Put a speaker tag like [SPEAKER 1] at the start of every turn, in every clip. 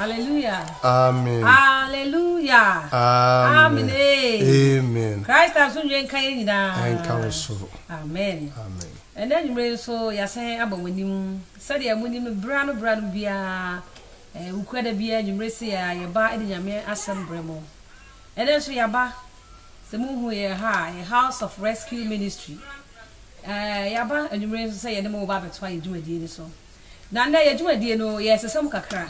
[SPEAKER 1] Hallelujah. Amen.
[SPEAKER 2] Hallelujah.
[SPEAKER 1] Amen.
[SPEAKER 2] Amen.
[SPEAKER 1] Christ has been drinking kaye nyina. Enka so.
[SPEAKER 2] Amen.
[SPEAKER 1] Amen. And
[SPEAKER 2] then you so
[SPEAKER 1] yasen abawanim. Said ya munim no bra no bra no bia. Eh ukura da bia nyumre se ya ye ba edi nyame asem bremo. Ɛnnɛ nso yɛaba, sɛ mohu yɛn ha a, yɛ House of Rescue Ministry. Ɛɛ, yɛaba anwummere nso sɛ yɛne mo bɛba abɛtoa yɛn dwumadie no so. Na nnɛ yɛn dwumadie no, yɛresesa mu kakra.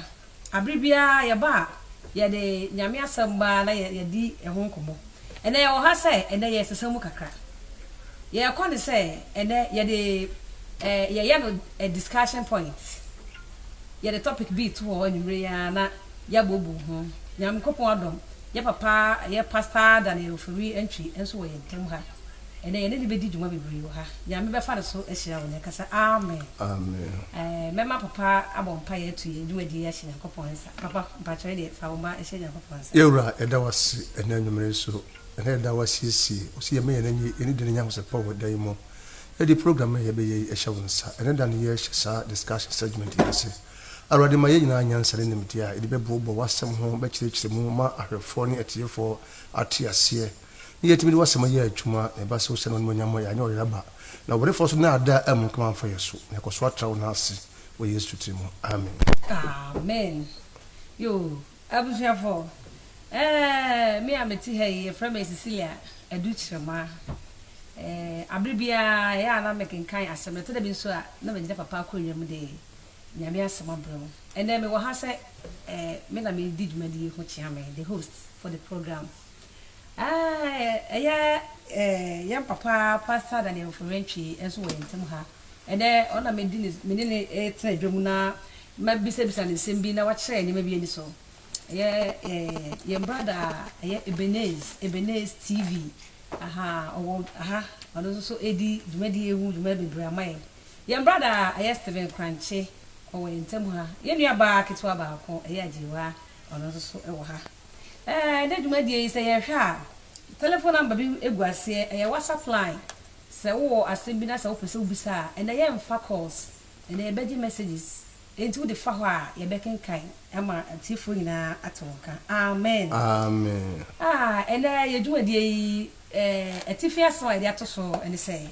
[SPEAKER 1] Abere biara yɛba a, yɛde Nyame asɛm ba na yɛ, yɛdi ɛho nkɔmmɔ. Ɛnnɛ yɛwɔ ha sɛ, ɛnnɛ yɛresesa mu kakra. Yɛrekɔ ne sɛ, ɛnnɛ yɛde, ɛɛ, yɛyɛ no a discussion point. Yɛde topic bi to hɔ anwummere yi ara na yɛ abobu ho. Nyankopɔn adom yɛ papa yɛ pasaa da ne ofori ntwi nso wɔ yɛn ntam ha ɛnɛ yɛne no bɛdi dwuma bebree wɔ ha Nyame bɛfa no so ahyira wo nɛka sɛ amen Amen
[SPEAKER 2] mɛma papa
[SPEAKER 1] abɔ mpaeɛ atu yɛn dwumadie yi ahyɛ Nyankopɔn nsa papa mpakyɛw deɛ fa wo mma ɛhyɛ Nyankopɔn nsa. Yɛwura yɛda wo ase
[SPEAKER 2] ɛnɛ anwumerɛ yi so ɛnɛ yɛda wo asiesie wo sɛ yɛmɛ yɛn ani yɛne di no nyankosɛpɔn wɔ da yi mu yɛde program yi a yɛbɛyɛ yi ɛhyɛ wo nsa ɛnɛ da no yɛhyɛ saa discussion segment yi ase. Awurade ma yɛn nyinaa nyansa ne nimdeɛ a yɛde bɛboaboa w'asɛm ho bɛkyerɛkyerɛ mu ma ahwɛfoɔ ne atiefoɔ ate aseɛ, na yɛatumi de w'asɛm ayɛ adwuma, na ɛba sɛ wosɛ no animuonyam a, yɛanyɛ ɔyaraba, na ɔbɔnefoɔ nso nnaadaa ammu nkam amfa yɛn so, na yɛkɔ so atra wo nan ase wɔ Yesu tiri mu. Amen. Amen
[SPEAKER 1] yoo abusuafoɔ eeh me a mete ha yi yɛfrɛ me Cecilia Adu Kyeremah eeh aberɛ biara ɛyɛ a na mekenkan asɛm no ɛtɔ da bi nso a na megyina papa akonnwa mu de Nyame asɛm abrɛ wo. Ɛnɛ me wɔ ha sɛ eh, me na me di dwumadi yi ho kyea me, the host for the program. Ah, ɛyɛ eh, yɛn papa Pastor Daniel Mforantwi nso wɔ yɛn ntam ha. Ɛnɛ ɔna me di ne, me ne ne eh, tena adwa mu na mabisabisa ne nsɛm bi na wakyerɛ yɛn nneɛma bi ani so. Ɛyɛ eh, yɛn brada ɛyɛ Ebenez, Ebenez TV. Aha, ɔwɔ aha, ɔno nso so ɛdi dwumadi yi ho dwuma bebree ama yɛn. Yɛn brada a ɛyɛ Steven Krankye, ɔwɔ yɛn ntam ha. Yɛn nuabaa ketewa baako, ɛyɛ Agyewaa, ɔno nso so wɔ ha. Ɛnnɛ dwumadie yi, sɛ yɛhwɛ a, telephone number bi gu aseɛ, ɛyɛ WhatsApp line. Sɛ wowɔ asɛm bi na sɛ wopɛ sɛ wobisa a, ɛnnɛ yɛmfa calls, ɛnnɛ yɛbɛgye messages. Enti wode fa hɔ a, yɛbɛkenkan ama atiefoɔ nyinaa ate wo nka. Amen. Amen.
[SPEAKER 2] Ah, ɛnnɛ
[SPEAKER 1] yɛn dwumadie yi, eh, atifi asɛm a yɛde ato so ne sɛ.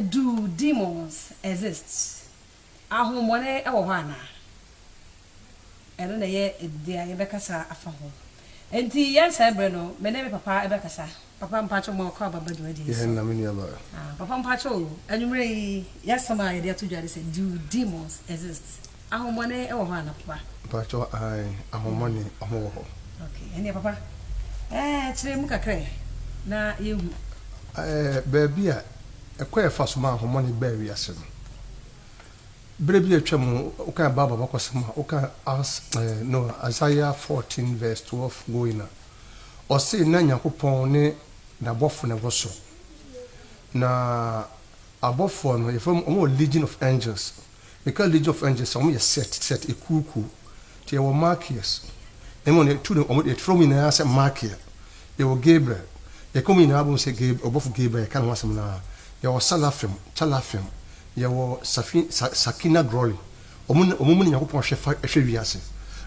[SPEAKER 1] Do demons exist? Ahonhommɔne wɔ hɔ anaa? Ɛno na ɛyɛ dea yɛbɛkasa afa ho. Enti yɛn saa berɛ no, me ne me papa bɛkasa. Papa mpakyɛw ma ɔkɔ aba ba dwumadie so. Yɛn na me nua ba.
[SPEAKER 2] Papa mpakyɛw,
[SPEAKER 1] anwummerɛ yi yɛasɛm a yɛde ato dwa ne sɛ, Do demons exist? Ahomɔne wɔ hɔ ana papa. Mpakyɛw ae
[SPEAKER 2] ahomɔne ɔmo wɔ hɔ. Ok ɛneɛ papa
[SPEAKER 1] ɛɛ kyerɛ mu kakra ɛ na yɛn hu. Ɛɛ
[SPEAKER 2] baabi a ɛkwan a ɛfa so ma ahomɔne baa wiase no berɛ bi a atwa mu wo kan bible abakɔsɛm a wo kan as ɛɛ no Isaiah fourteen verse twelve going a ɔsee na Nyankopɔn ne nabɔfo na ɛwɔ soro na abɔfoɔ no yɛfrɛ ɔmo wɔ legion of angels. Meka League of Angels a, wɔn yɛ set set, ekuo kuo. Nti yɛwɔ Malkias, na mmom deɛ tu no, wɔn yɛfrɛ wɔn nyinaa sɛ Malkia. Yɛwɔ Gabriel, yɛka wɔn nyinaa bom sɛ Gab ɔbɔfo Gabriel, yɛka ne ho asɛm no ara. Yɛwɔ Salafim, Calafim, yɛwɔ Safi Sa Sakina Groli, wɔn na wɔn mu na Nyankopɔn hwɛ fa hwɛ wiase.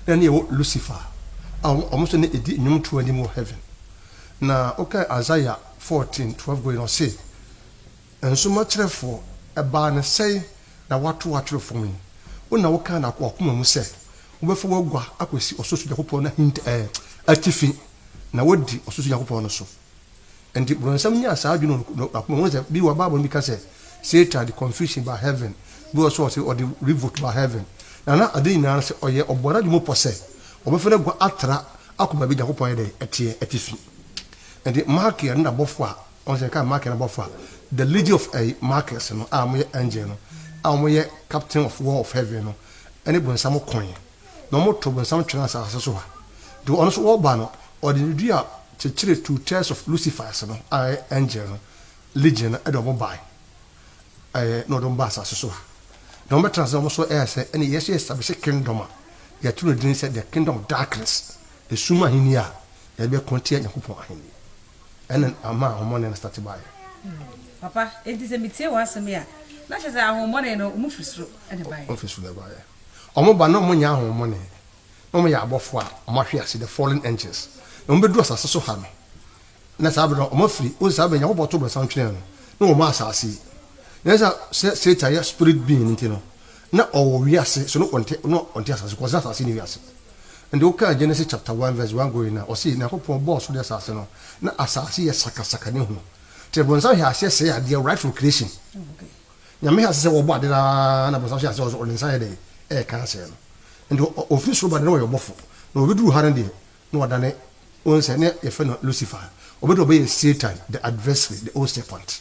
[SPEAKER 2] Na ɛne yɛwɔ Lucifer, a wɔn wɔn nso na edi nnwomtoɔ anim wɔ heaven. Na wokae Isaiah 14, 12 going no, ɔse, Nsoma kyerɛfoɔ, ɛbaa no sɛn na woato w'atwerɛ fam yi? Wo na wokaa no w'akoma mu sɛ, wobɛfa w'agua akɔsi ɔsorosoro Nyankopɔn no ahinta, ɛɛ, atifi, na woadi ɔsorosoro Nyankopɔn no so. Enti Bronsam nyaa saa adwene no wɔ n'akoma mu. Wohu sɛ, bi wɔ hɔ a, Bible no bi ka sɛ, Satan de confusion baa heaven. Bi wɔ hɔ nso a, ɔse ɔde revolt baa heaven. Na na ade nyinaa no sɛ, ɔyɛ, ɔbɔɔ n'adwene mu pɔ sɛ, ɔbɛfa n'agua atra akɔ baabi a Nyankopɔn ayɛ dɛn? Ɛteɛ, atifi. Enti Malkia ne n'abɔfoɔ a Wɔn sɛ ka Markers no bɔfo a The Legion of ɛyi Markers no a wɔyɛ angel no a wɔyɛ captain of war of heaven no ne bonsam koe na wɔtow bonsam twenee asase so ha nti ɔno nso ɔba no ɔde ne dua kyekyeree two thirds of Lucifer's no a ɛyɛ angel no legion no de wɔn bae ɛɛ na ɔde wɔn baa asase so ha na wɔbɛtena ase na wɔn nso ɛyɛ sɛ ɛne yɛsɛ establish kingdom a yɛto no din sɛ the kingdom of darkness esum ahenni a yɛde bɛko atia Nyankopɔn ahenni. Ɛna ama ahonhommɔne no starte baeɛ. Papa,
[SPEAKER 1] enti sɛ metie wɔn asɛm yi a, na kyerɛ
[SPEAKER 2] sɛ
[SPEAKER 1] ahonhommɔne
[SPEAKER 2] no, wɔn firi
[SPEAKER 1] soro na ɛbaeɛ.
[SPEAKER 2] Wɔn firi soro na ɛbaeɛ.
[SPEAKER 1] Wɔn ba na wɔn
[SPEAKER 2] nyɛ
[SPEAKER 1] ahonhommɔne.
[SPEAKER 2] Na wɔn yɛ abɔfoɔ a wɔn ahwe ase, the fallen angels. Na wɔn bɛduru asase so ha no, na saa berɛ no wɔn afiri, wohu sɛ saa berɛ no Nyankopɔn too brɛnsa no twenee no, na wɔn maa asase yi. Nanso sɛ Satan yɛ spirit being nti no, Na ɔwɔ wiase so na ɔnte na ɔnte asase kɔ ɔsɛ asase ne wiase nti wo kaa Genesis chapter one verse one going a ɔsɛ Nyankopɔn bɔɔ ɔsoro ne asase no na asase yɛ sakasaka ne hunu nti bɔnsam hwɛ aseɛ sɛe adeɛ right from creation
[SPEAKER 1] Nyame hwɛ aseɛ sɛ
[SPEAKER 2] wɔbɔ ade no ara na bɔnsam hwɛ aseɛ ɔde nsa yɛ dɛn ɛɛka asɛe no nti ɔfiri soro ba de na ɔyɛ ɔbɔfo na ɔbɛduru ha no deɛ na wadane wo nsɛ ne yɛfɛ no Lucifer ɔbɛduru ɔbɛyɛ Satan the adversary the old serpent.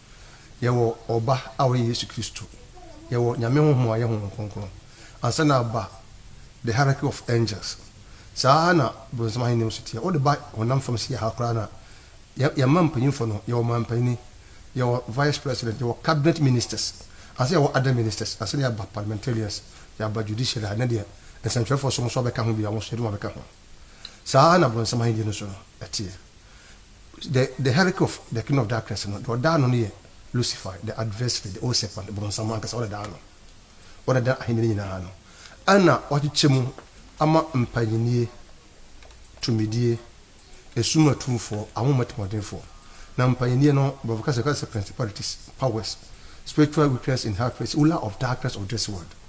[SPEAKER 2] Yɛwɔ Ɔba a ɔyɛ Yesu Kristo. Yɛwɔ Nyame Honhom a ɔyɛ Honhom Kronkron. Ansa na aba The Hierarchy of Angels. Saa ara na Bronsam Ahenni nso teɛ. Wode ba honam fam si ha koraa no a, yɛ, yɛn mma mpanyimfo no, yɛwɔ Ɔmanpanyin, yɛwɔ Vice President, yɛwɔ Cabinet Ministers, ansa yɛwɔ Other Ministers, ansa na yɛaba Parliamentarians, yɛaba Judiciary a, ɛnnɛ deɛ, nsɛnkyerɛwfoɔ som nso abɛka ho bi a wɔn nso yɛde wɔn abɛka ho. Saa ara na Bonsam ahenni no nso no, ɛteɛ. The the hierarchy of the kingdom of darkness no, deɛ ɔda ano no yɛ Lucifer, the adversary, the old serpent, Bonsam ankasa, ɔna da ano. Ɔna da ahenni no nyinaa ano. Ɛna ɔkyekyɛ mu ama mpanyinie, tumidie, esum atumfoɔ, ahonhom atirimuɔdenfoɔ. Na mpanyinie no, Borɔfo kasa mu yɛka no sɛ principalities, powers, spiritual wickedness in high places, ruler of darkness of this world.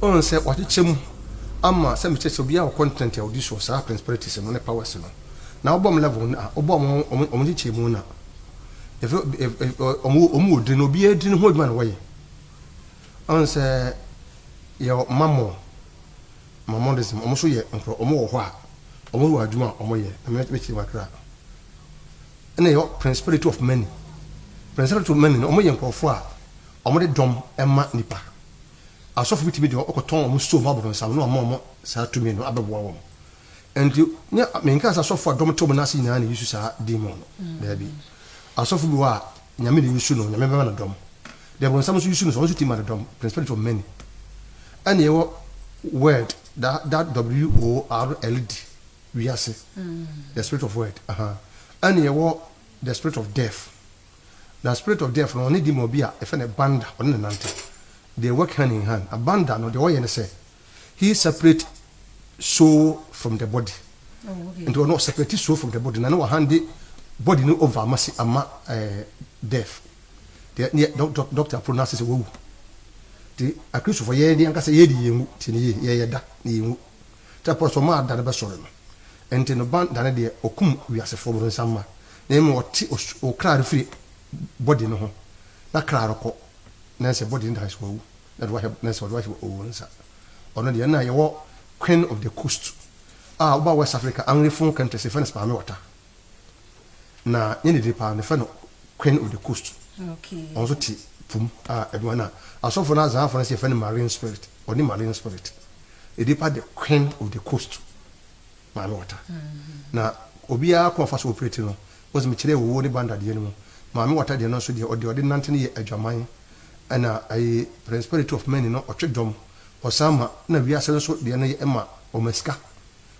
[SPEAKER 2] Wohu sɛ wɔakyekyɛ mu ama sɛ mekyerɛ sɛ obiara wɔ continent a odi so wɔ saa principalities no ne powers no. Na wobɔ wɔn level no a, wobɔ wɔn wɔn nkyekyɛ mu no a, efi wɔn wɔn wɔ din no obiara din ho adwuma na wɔyɛ. Wohu sɛ yɛ mammon mammonism wɔn nso yɛ nkorɔ wɔn wɔ hɔ a wɔn wɔ adwuma a wɔn yɛ na mekyerɛ mu akra. Ɛna yɛ principality of money principality of money no wɔn yɛ nkorɔfoɔ a Wɔde dɔm ma nnipa. Asɔfo bi tumi de wɔn kɔtɔn wɔn store ma abɔnonsam na wɔama wɔn saa tumi no abɛboa wɔn. Enti, ne, menkaa sɛ asɔfo a dɔm te wɔn ase nyinaa na eyi su saa demon no. Daabi. Asɔfo bi wɔ hɔ a, Nyame na eyi su no, Nyame bɛma no dɔm. Deɛ abɔnonsam nso yi su no, sɛ ɔno nso tumi ma no dɔm, principality of many. Ɛna yɛwɔ word, da, da, W-O-R-L-D, wiase, the spirit of word, ahaa. Ɛna yɛwɔ the spirit of death. Na spirit of death no ɔne demon bi a yɛfrɛ no Banda ɔne no nante. They work hand in hand. Na Banda no deɛ ɔyɛ ne sɛ he separate soul from the body. Nti ɔno
[SPEAKER 1] ɔseparate soul from
[SPEAKER 2] the body na ne wahande body no over ama si ama eh, death. Deɛ ne doctor pronounce sɛ wawu. Nti akristofo yɛn deɛ ankasa yɛdi yɛn wu tie ne yie yɛyɛ da na yɛn wu. Sɛ pɔsɔ maa da no bɛsɔre no, enti no ban da no deɛ ɔkum wiasefoɔ borosamma, na mmom ɔte ɔsoro kra no firi body no ho, na kra no kɔ, nanso body no da hɔ sɛ wawu, na ɔde wahyɛ nanso ɔde wahyɛ ɔwɔ nsa. Ɔno deɛ na yɛwɔ Queen of the Coast a ɔba West Africa, Anglophone countries yɛfrɛ no Spaame Wata. Na nyɛ ne din paa no yɛfrɛ no Queen of the Coast. Ɔno nso te
[SPEAKER 1] po
[SPEAKER 2] mu a ɛdua no a asɔfo no Azanfo no nso yɛfrɛ no Marine Spirit. Ɔne Marine Spirit. Ne din paa de Queen of the Coast. Maame Wata. Na obiara kwan a ɔfa so operate no, wohu sɛ mekyerɛɛ Owuo ne Banda deɛ no mu. Maame Wata deɛ no nso deɛ ɔde ɔde nante no yɛ adwaman. Ɛna ɛyi Principality of Maine no ɔtwe dɔm. Ɔsan ma na wiase no nso deɛ no yɛ ɛma ɔma sika.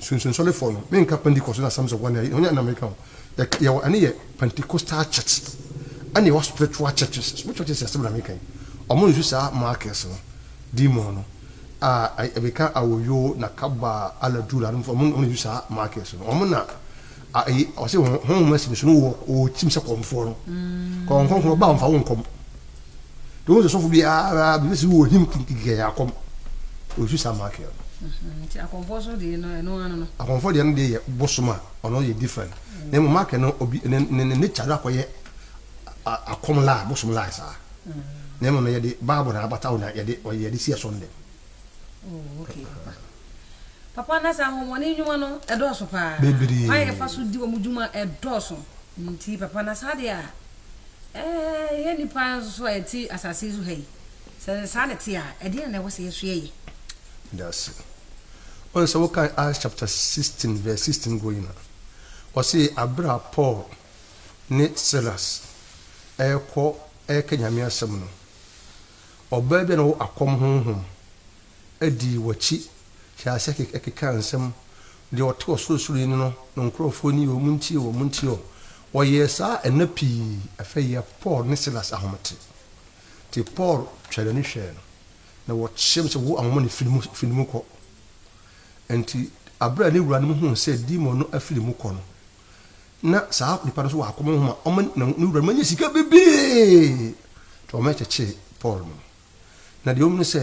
[SPEAKER 2] Sunsum Sɔrefɔɔ no, me nka Pentecost na Assemblies of One Near Hɔn na me ka ho. Yɛ wɔ ɛno yɛ Pentecostal Church ɛna yɛ wɔ Spiritual Churches. Spiritual Churches asɛm na me ka yi. Ɔmo nsu saa Marcus no, demon no, a ɛbeka Awoyoo na Kaba Aladura no, ɔmo na nsu saa Marcus no. Ɔmo na A Eyi ɔse hon honhom asi ne so no wɔ ɔɔtim sɛ kɔmfoɔ no. Kɔ Honhom Kronkron ɔba ɔmfa wo nkɔm. Nti wohu sɛ sɔfo biara biribi si wɔ him kikikɛyɛ akɔm. Ɔsu saa maake no. Nti akɔmfoɔ
[SPEAKER 1] so deɛ no ɛno ano no. Akɔmfoɔ deɛ no deɛ yɛ
[SPEAKER 2] bosom a ɔno yɛ different. Na mmom maake no obi ne ne ne nature no akɔyɛ a akɔm lie bosom lie saa. Na mmom no yɛde bible na abata wo na yɛde ɔyɛ yɛde si ɛso ndɛ.
[SPEAKER 1] Oh, okay, papa. Papa na saa ahomɔne nnwuma no ɛdɔɔso paa. Bebree. Kwan a yɛfa so
[SPEAKER 2] di wɔn
[SPEAKER 1] dwuma ɛdɔɔso. Nti papa na saa deɛ a ɛɛ yɛ nipa nso a yɛte asase so ha yi sɛ saa na ɛte a ɛdeɛn na ɛwɔ sɛ yɛso yɛyɛ? Dase.
[SPEAKER 2] Wohu sɛ wokan Acts chapter 16 verse 16 going a, ɔse aberɛ a Paul ne Silas ɛɛkɔ ɛɛka Nyame asɛm no, Ɔbaa bi a na ɔwɔ akɔm honhom dii w'akyi hyɛɛ aseɛ kekaa nsɛm, Deɛ ɔte Ɔsorosoroni no no nkorɔfoɔ nie o, montie o, montie o. Ɔyɛɛ saa nna pii, afei yɛ Paul ne Silas ahomete. Nti Paul twaa n'ani hwɛɛ no, na wɔteaam sɛ, Wo ahonhommɔne, firi ne mu kɔ! Nti berɛ a ne wuranom huu sɛ demon no afiri mu kɔ no, na saa nipa no so wɔ akɔmɔ ho ma ɔma na ne wura no nya sika bebree nti ɔma ɛkyekyee Paul no na deɛ ɔmu no sɛ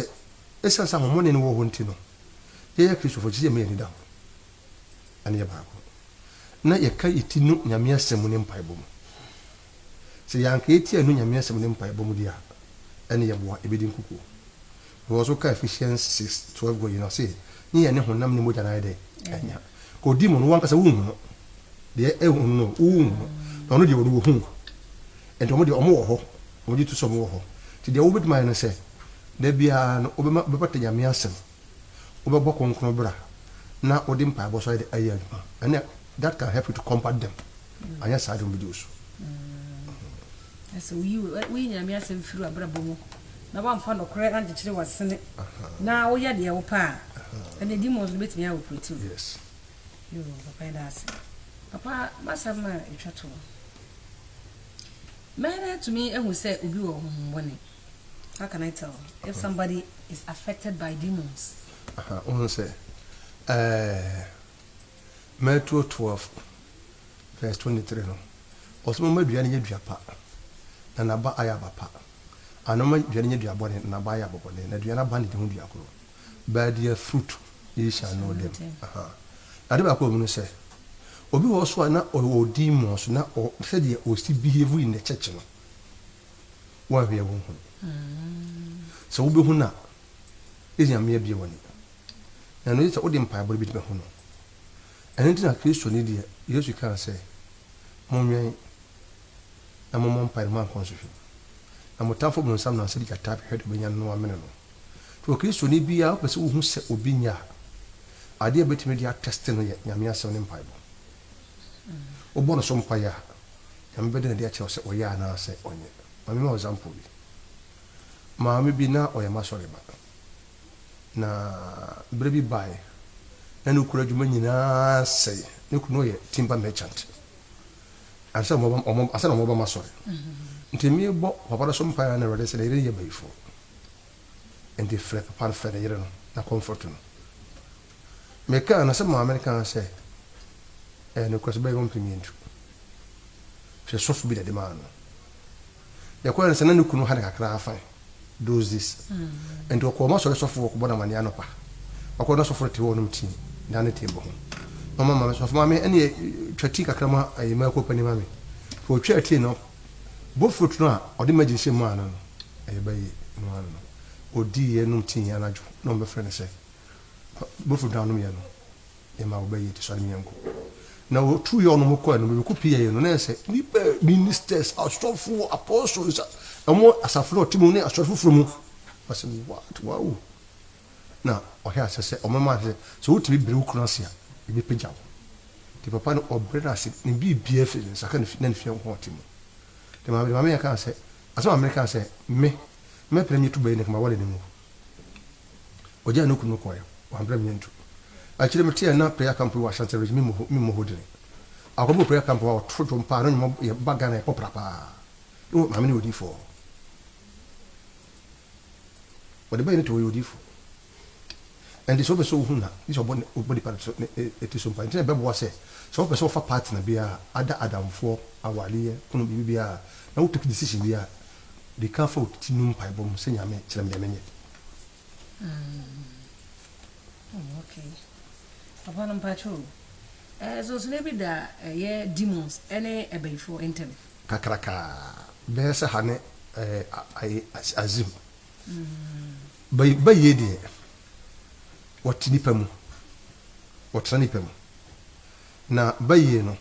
[SPEAKER 2] ɛsiane sɛ ahomɔne no wɔ hɔ nti no yɛyɛ kristofo gye sɛ ɛma yɛ ani da hɔ ɛne yɛ baako na yɛka yɛ ti no nyame asɛm mu ne mpaebɔ mu Sɛ yɛanka etia nnu Nyame Asɛm ne mpaebɔ mu de a, ɛne yɛboa ebedi nkukuo. Paul nso kaa Ephesians six twelve gu yi no ɔse, Nye yɛne honam ne mogya na ayɛ dɛ anya. Ka odi mu no, wankasa wonhu no, deɛ ɛhu no no wonhu no, na ɔno deɛ ɔno wɔhu no. Enti wɔn deɛ wɔn wɔ hɔ, wɔn gye to sɛ wɔn wɔ hɔ. Enti deɛ wobɛtumi ayɛ ne sɛ, da biara no wobɛma wobɛpata Nyame Asɛm. wobɛbɔ kronkron bra na wode mpaebɔ so ayɛ ayɛ adwuma ɛnɛ that can help you to combat them mm. anyɛ saa de wɔbɛdi wo so
[SPEAKER 1] ɛsɛ mm. woyi woyi nyame asɛm firi abrabɔ mu na woamfa nɔkorɛ ankyekyere wasene na woyɛ deɛ wo pɛ a ɛne di mɔ so no bɛtumi ayɛ operatiw yes
[SPEAKER 2] yo
[SPEAKER 1] papa yɛda ase papa masɛm no a ɛtwa to mɛyɛ no atumi ahu sɛ obi wɔ honhombɔne How can I tell if somebody is affected by demons? Aha, wohu sɛ
[SPEAKER 2] eh, Matthew 12 verse 23 no, ɔsɛ moma dua no nyɛ dua pa, na n'aba ayɛ aba pa, ana moma dua no nyɛ dua bɔne, na n'aba ayɛ aba bɔne, na dua no aba ne de ho dua koro. By their fruit ye shall know them. Aha. Ade baako wɔ mu no sɛ, obi wɔ so a na ɔwɔ demons, na ɔ, sɛdeɛ ɔsi behave in the church no, Woanhwɛ wo ho. Sɛ wubehu no a, eye ma yɛabue w'ani. Na nea eye sɛ wode mpaebɔ no betumi ahu no. Ɛno nti na Kristoni deɛ, Yesu kaa sɛ, Monwɛn, na mommɔ mpae na moankɔ nsɔhwɛ mu, na mo tamfo Bonsam nam sɛ gyata bɛhwɛ deɛ obenya no no amene no. Nti wɔ Kristoni biara, wopɛ sɛ wuhu sɛ obi nyɛ a, ade a ebetumi de atɛste no yɛ Nyame Asɛm ne mpaebɔ. Wobɔ no so mpae a, Nyame bɛda no adi akyerɛ wo sɛ ɔyɛ anaasɛ ɔnyɛ. Ma me ma wo example bi. Maame bi na ɔyɛ m'asɔre ba. Na berɛ bi baeɛ na ne kunu adwuma nyinaa sɛe. Ne kunu yɛ timber merchant. Ansa na wɔn ba m'asɔre. Nti mebɔ papa no so mpaeɛ na Awurade sɛ ne yere no yɛ bayifoɔ. Nti frɛ papa no frɛ ne yere no na comfort no. Mekaa no sɛ maame no kaa sɛ ɛyɛ nokorɛ sɛ bɛyɛ ɔmpɛ me ntu. Hwɛ sɔfo bi na ɛde maa no. Deɛ ɛkɔɛ no sɛ na ne kunu ha no kakra afa those days. Nti ɔkɔɔ ɔma sɔre sɔfo ɔkɔbɔ no amaneɛ anɔpa. Ɔkɔ na sɔfo no te hɔ ɔnom tea na ne table ho. Na ɔma maame sɔfo maame ɛneɛ twa tea kakra ma ɛyɛ mako panin ma me. Hwɛ ɔtwaa tea no bowl fruit no a ɔde magi hyɛ maa no no ɛyɛ bɛyɛ no ano no ɔdiiɛ nom tea anadwo na ɔmbɛfrɛ no sɛ Bɔfo dwan nom yɛ no yɛ ma ɔbɛ yɛ ti sɔre mi yɛ nko na wɔ tu yɛ ɔno mo kɔ yɛ no bɛ bɛ kɔ pi yɛ yɛ no na yɛ sɛ ni bɛ ministers asɔfo apɔsɔ nsa ɛmo asafo na ɔte mu ne asɔre foforo mu ma sɛ what wow na ɔhɛ asɛ sɛ ɔmo ma sɛ sɛ wɔ ti mi bere wɔ kunu ase a yɛ bɛ pagya wɔ ti papa no ɔbere na ase ne bi bi afiri ne nsa ka ne fi na ne fi yɛ nko ɔte mu de ma de ma me yɛ ka sɛ asɛ ma me ka sɛ me mɛ pere mi tu bɛ yɛ ne kama wɔ le ne mu. Ogyaa ne kunu kɔeɛ, wammrɛ me antu. Akyire metee a na prayer camp bi wɔ Ashanti region, me mmɔ me mmɔ hɔ dini. Akɔbɔ prayer camp hɔ a ɔto dwom paa, ne nnwom yɛ ba Ghana yɛ popular paa. Oh maame no yɛ odiyifoɔ. Wɔde bɛyɛ no te ɔyɛ odiyifoɔ. Ɛnti sɛ wopɛ sɛ wohu na gye sɛ ɔbɔ ne ɔbɔ nipa so ne ne ti so mpa. Nti na ɛbɛboa sɛ sɛ wopɛ sɛ wofa partner bi a, ada adamfoɔ, awadeɛ, kunu biribi biara na wo pick decision bi a, De ka fa wo ti no mpaebɔ mu sɛ Nyame kyerɛ me deɛ menyɛ. Mm.
[SPEAKER 1] Oh, okay. Papa no mpakyɛ o. Eh, sonsonɛ bi da ɛyɛ eh, demons ɛne eh, ɛbɛyifoɔ eh, ntɛm. Kakraka.
[SPEAKER 2] Bɛyɛ sɛ ha ne eh, azim. Mm. Bɛyie deɛ, wɔte nipa mu. Wɔtena nipa mu. Na bayie no,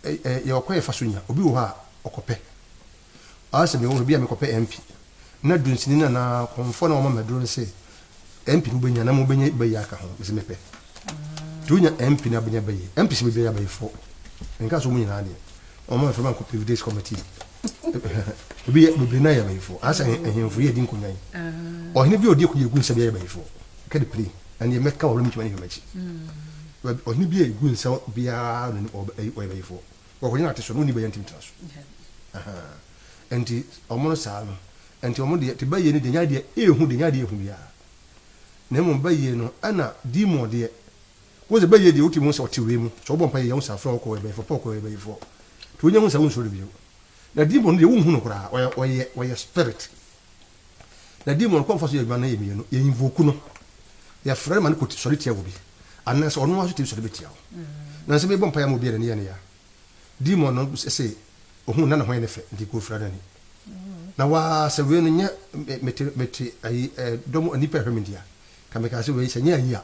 [SPEAKER 2] ɛ ɛ yɛwɔ kwan a yɛfa so nya. Obi wɔ hɔ a, ɔkɔpɛ. Ɔa sɛ mewɔ hɔ, ebia mekɔpɛ MP, na dunsini no anaa kɔmfoɔ no a wama me aduro no se, MP no wobɛnya, na mmom wobɛnya bayie aka ho. Mese mepɛ. Nti wonya MP na wobɛnya bayie. MPs bebree yɛ abayifoɔ. Menkaa sɛ wɔn nyinaa deɛ. Wɔma mefrɛ ma nkɔpɛ Evidence Committee. ebi yɛ bebree na yɛ abayifo ansa ahemfo yɛ di nkonya yi ɔhene bi a ɔdi ekuyi egu nsa bi yɛ abayifo kɛde pere na deɛ mɛka wɔn mintuma ne hwɛ m'akyi ɔhene bi a egu nsa biara no ɔyɛ abayifo wɔkɔgye na ate so no wɔn ni bɛyɛ ntumi tena so nti wɔn no saa no nti wɔn deɛ te bɛyɛ ne deɛ nya deɛ ehu deɛ nya deɛ ehu biara na mmom bɛyɛ no ɛna demon deɛ Wo dze bɛyɛ deɛ wotim ho sɛ ɔte wei mu, sɛ wobɔ mpaeɛ yɛ ho saa, frɛ wo kɔ ɔyɛbɛyifoɔ, pɛ ɔkɔ ɔyɛbɛyifoɔ, nti wonya hu saa wonsuro no bio. Na demon no deɛ wonhu no koraa, ɔyɛ ɔyɛ ɔyɛ spirit, na demon no kwan a ɔfa so yɛ adwuma no yɛ mmienu, yɛ invoke no, yɛfrɛ no ma no kɔ sɔre tia obi, anaasɛ ɔno ara nso tumi sɔre bɛtia wo. Na sɛ mebɔ mpaeɛ ama obi a n'ani yɛ no yɛ a, demon no se ɔhu na ne ho yɛ no fɛ, nti kɔ fira n'ani, na waa sɛ wei no nyɛ mete mete ayi dɔm nnipa a ɛhwɛ me nti a, ka mekaa sɛ wei sɛ ɛnyɛ ayi a,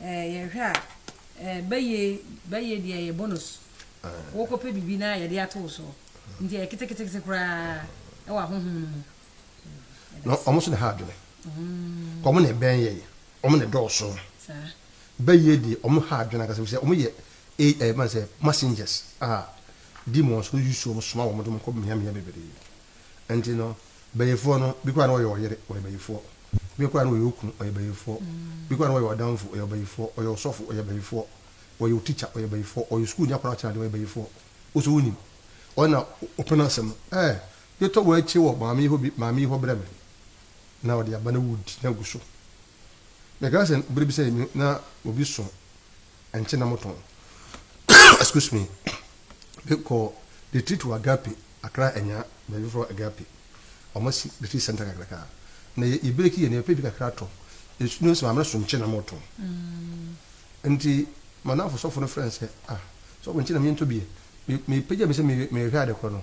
[SPEAKER 1] eh, yɛhwɛ a, eh, bɛyɛ bɛyɛ deɛ ɛyɛ bonus. Wokɔpɛ biribi na yɛde ato wo soɔ. Nti ɛyɛ ketekete koraa ɛwɔ ahohom no mu.
[SPEAKER 2] Na wɔn nso na ha adwene. Mm. Wɔn na ɛbɛn yɛ yɛ. Wɔn na ɛdɔɔso. Saa. Bɛyɛ deɛ wɔn ha adwene ankasa sɛ wɔn yɛ ɛyɛ eh, eh, man sɛ messengers a demons use wɔn soma wɔn de wɔn kɔ mmeammea bebree. Nti no, bayifoɔ no, bi koraa na ɔyɛ ɔyere, ɔyɛ bayifoɔ. Bi koraa na ɔyɛ okunu, ɔyɛ bayifoɔ. Bi koraa na ɔyɛ ɔdamfo, ɔyɛ bayifoɔ. Ɔyɛ ɔsɔfo, ɔyɛ bayifoɔ. Ɔyɛ wo tikya, ɔyɛ bayifoɔ. Ɔyɛ sukuuni akwadaa ɔkyena adeɛ, ɔyɛ bayifoɔ. Wo nso wonim. Ɔno na ɔpene asɛm no. Ɛɛ, yɛtɔ wo akyi wɔ maame yi hɔ bi, maame yi hɔ brɛ me. Na ɔde aba na wodi na agu so. Mekae sɛ bere bi sɛ me na obi so ɛnkyɛ na motɔn excuse me de kɔ de tiri to agape akra anya baabi fɔ agape wɔn si de tiri sɛnta kakraka na yɛ yɛ breki yɛ na yɛ pɛ bi kakra tɔ esu no sɛ maame so nkyɛ na motɔn mm. nti manafo sɔfo no frɛ nsɛ ah sɔfo nkyɛ na menyɛ ntɔ bie mepagya me sɛ mehwɛ adekorɔ no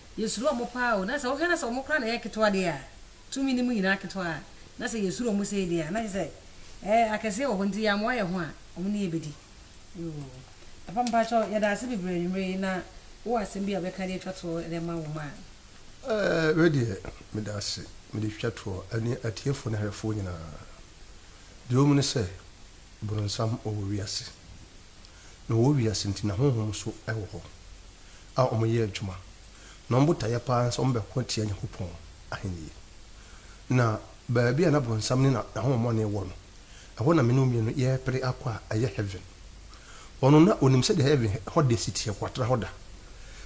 [SPEAKER 1] Yɛsuro wɔn paa o, na sɛ wohwɛ na sɛ wɔn koraa na ɛyɛ ketewa deɛ a, tumi no mu nyinaa ketewa a, na sɛ yɛsuro wɔn sei deɛ a, na kyerɛ sɛ ɛɛ akɛseɛ wɔ hɔ nti yɛammoa yɛn ho a, wɔn ne yɛbɛdi. Yoo. Papa mpakyɛw yɛda ase bebree anwummerɛ yi na wowɔ asɛm bi a wobɛka de atwa toɔ de ama wo mma a. Ɛɛ
[SPEAKER 2] wei deɛ meda ase mede twitwa toɔ ɛne atiefoɔ ne ahwɛfoɔ nyinaa. Deɛ ɛwɔ mu ne sɛ boronsam ɔwɔ wiase. na wɔwɔ wiase nti na honhom nso wɔ hɔ a wɔyɛ adwuma, na wɔn botaeɛ paa ne sɛ wɔbɛko atia Nyankopɔn ahennie. Na baabi a na bonsam ne n'ahohommɔne wɔ no, ɛhɔ na me ne wo mmienu yɛrepere akɔ a ɛyɛ heaven. Ɔno na ɔnim sɛdeɛ heaven hɔ de si teɛ, watra hɔ da.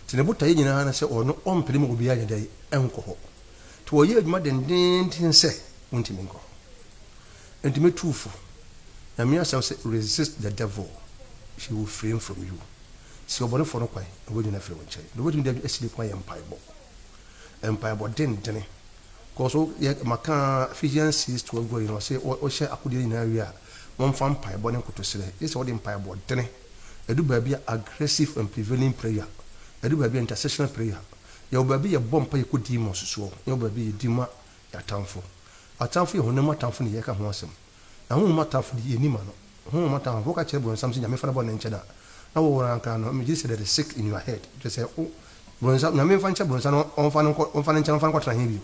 [SPEAKER 2] Nti ne botaeɛ nyinaa ne sɛ ɔno ɔmpere ma obiara nyɛ dɛn? Nkɔ hɔ. Nti ɔyɛ adwuma dendeenden sɛ wontumi nkɔ hɔ. Enti me tu wo fo, Nyame asɛm se resist the devil he will free from you, si ɔbɔnefoɔ no kwan na wanyini afiri wo nkyɛn. Deɛ wobɛtumi de asi ne kwan yɛ mpaebɔ, mpaebɔ dendene, kɔso yɛ maka Ephesians 6, 12 gu ayi no ɔse wohyɛ akodeɛ no nyinaa wie a momfa mpaebɔ ne nkotosrɛ, gyesɛ wode mpaebɔ dene, ɛdu baabi a aggressive and prevailing prayer, ɛdu baabi a intercessional prayer, yɛwɔ baabi yɛbɔ mpaeɛ kɔ din mu a ɔsusuɔ, na yɛwɔ baabi yɛ din mu a Atamfo. Atamfo yɛ honam mu atamfo na yɛreka ho asɛm. Na honhom mu atamfo de, yennim ano. Honhom mu atamfo, wɔka kyerɛ Bronsam sɛ Nyame mfa ne bɔne nkyɛ no a, na wɔwɔ no ara koraa no, megye di sɛ that is sick in your head. Kyerɛ sɛ, wo, Bronsam, Nyame mfa nkyɛ Bronsam na ɔmfa no nkɔ, ɔmfa no nkyɛ no, ɔmfa no nkɔtena he bio.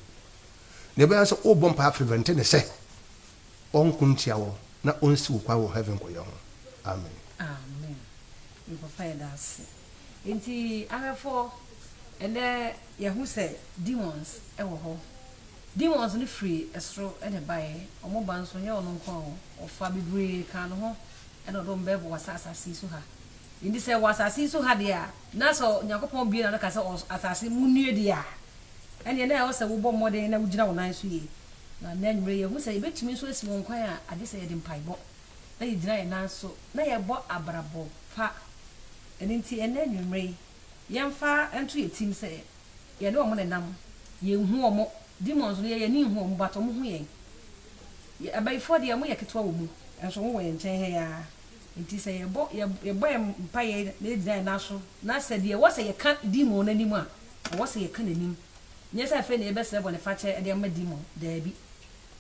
[SPEAKER 2] Nea ɛbɛyɛ ne sɛ worebɔ mpae afrevente no sɛ ɔnko ntia wo na onsi wo kwan wɔ heaven kɔyɛ ho. Amen. Amen. Me
[SPEAKER 1] papa yɛda ase. Ntsi ahwɛfo, ndɛ yɛhu sɛ demons wɔ hɔ. Demons no fri sor na ebae, ɔmo ba so nnyɛ ɔno nko o, ɔfa beberee ka no ho na ɔde ɔmo bɛwɔ saa asaase yi so ha. Ntsi sɛ wɔ asaase yi so ha deɛ a, na sɛ Nyankopɔn bue n'ano ka sɛ ɔs asaase munnue deɛ a, ɛneɛ na ɛwɔ sɛ wobɔ mmɔden na wogyina wo nan so yie. Na nnɛ anwummerɛ yi yɛhu sɛ yɛbɛtumi nso asi wɔn kwan a agye sɛ yɛde mpaebɔ na yɛgyina yɛn nan so na yɛbɔ abrabɔ pa. Ɛno nti ɛnnɛ anwumerɛ yi, yɛmfa nto yɛn tirim sɛ yɛne wɔn nenam. Yɛnhu wɔn, demons no, yɛn ani nhu wɔn but wɔn hu yɛn. Abayifoɔ deɛ wɔyɛ ketewa wɔ mu nso wɔwɔ yɛn nkyɛn ha yi ara. Nti sɛ yɛbɔ yɛbɔ yɛn mpaeɛ na yɛgyina yɛn nan so na sɛ deɛ ɛwɔ sɛ yɛka demon no anim a, ɛwɔ sɛ yɛka n'anim. Nyɛ sɛ afei na yɛbɛsrɛ bɔnefakyɛ de ama demon, daabi.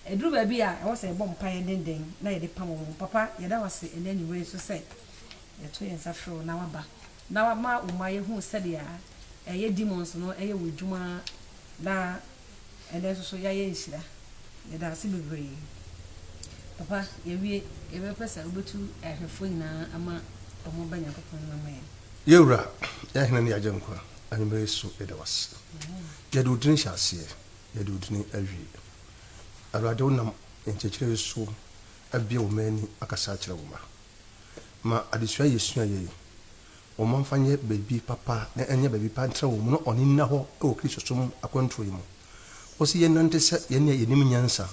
[SPEAKER 1] Ɛduru baabi a ɛwɔ sɛ yɛbɔ mpaeɛ denden na yɛde pam wɔn. Papa, yɛda wo ase ɛnnɛ anwummerɛ yi nso sɛ yɛto yɛn nsa frɛ wo na woaba na woama wo mma yɛhunu sɛdeɛ ɛyɛ demons no yɛ wɔn adwuma na ɛnnɛ nso so yɛayɛ nhyira. Yɛda wo ase bebree. Papa, yɛawie, yɛbɛpɛ sɛ wobɛtu ahwɛfoɔ nyinaa ama wɔn aba Nyankopɔn anim ama yɛn. Yɛn Wura, yɛn
[SPEAKER 2] Hene ne yɛn Agyenkwa, anwummerɛ yi nso yɛda wo ase. Yɛde wo dini hyɛ aseɛ, yɛde wo dini awie. Awurade, wonam nkyerɛkyerɛ yi so abue wo mma ani akasa akyerɛ wo mma. Ma adesua a yɛsuaeɛ yi, wo mma mfa nyɛ baabi papa na ɛnyɛ baabi pa ntra wɔn mu na wɔne nna hɔ wɔ Kristosom akwantuo yi mu. Wose yɛnnante sɛ yɛn a yɛnim nyansa,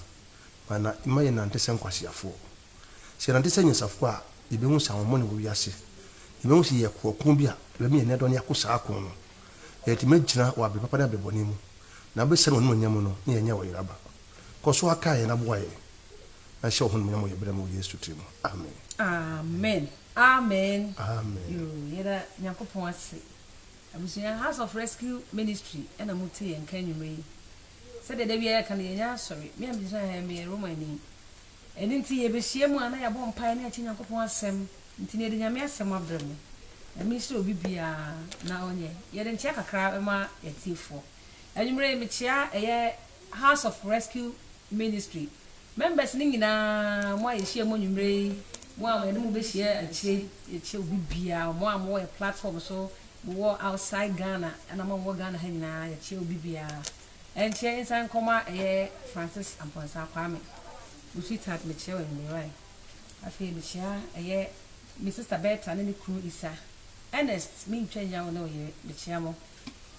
[SPEAKER 2] ma na mma yɛnnante sɛ nkwaseafoɔ. Sɛ yɛnante sɛ anyansafoɔ a, yɛbɛhu sɛ ahoɔmɔne wɔ wiase. Yɛbɛhu sɛ yɛyɛ koɔ ko bi a yɛbɛma yɛn ani adɔ na yɛako saa ako no, na yɛatumi agyina wɔ abrɛ papa ne abrɛ bɔne mu. Na bɛhyɛ no animuonyam no ne yɛnyɛ ɔyera ba. Kɔ so ara kae yɛn na boa yɛn. Na hyɛ wo ho animuonyam wɔ yɛn brɛ mu wɔ Yesu tiri mu. Amen. Amen
[SPEAKER 1] amen Amen. yoo
[SPEAKER 2] yɛda
[SPEAKER 1] nyankopɔn ase abusua house of rescue ministry ɛna mo te yɛn nka anwummerɛ yi sɛdeɛ da biara yɛka no yɛnyɛ asɔre me a megyina ha meyɛ romani Ɛno nti yɛbɛhyia mu a na yɛabɔ mpaeɛ na yɛakyɛ Nyankopɔn asɛm. Nti na yɛde Nyame asɛm abrɛ mo. Na mesrɛ obi biara na ɔnyɛ yɛde nkyea kakra bɛma yɛatiefoɔ. Anwummerɛ yi mekyea ɛyɛ House of Rescue Ministry members no nyinaa, mo a yɛhyia mu anwummerɛ yi, mo a yɛne mo bɛhyia akyire yi, yɛkyɛ obi biara, mo a mowɔ yɛ platform so, mowɔ outside Ghana, ɛna mo a mowɔ Ghana ha nyinaa, yɛkyɛ obi biara. Ɛnkyɛ nsan nkɔm a ɛyɛ Francis Amponsah Kwame, wo sweetheart mekyia wo anwummerɛe. Afei mekyia ɛyɛ me sister Bertha ne ne kunu Isa. Ernest mentwa nnya wo ne wo yere mekyia mo.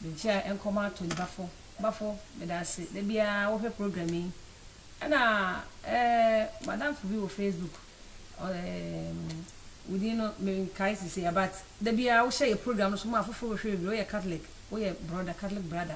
[SPEAKER 1] Menkyia nkɔm a Tony Bafo, Bafo medaase da biara wohwɛ program yi. Ɛna eh madamfo bi wɔ Facebook eh wo din no menkae sesei a but da biara wohyɛ yɛ program no so ma afoforo bɛhwɛ bebree. Woyɛ Catholic, woyɛ brother, Catholic brother.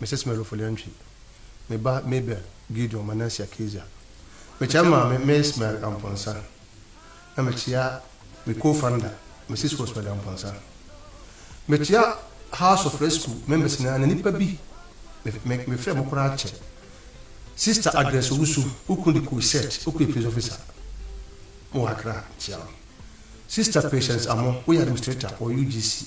[SPEAKER 2] Mrs. Mary Ofori-Antwi, me ba Mabel Gideon Manasseh Akezia. Mekyia Maame Miss Mary Amponsah, na mekyia me co-founder Mrs. Rosemary Amponsah. Mekyia House of Rescue members nyinaa na nnipa bi me me frɛ mo koraa kyɛ. Sister Agnes Owusu, wo kunu de kɔɔ set, wo kunu yɛ police officer wɔ Accra, mekyia wo. Sister Patience Amoh, woyɛ administrator wɔ UGC.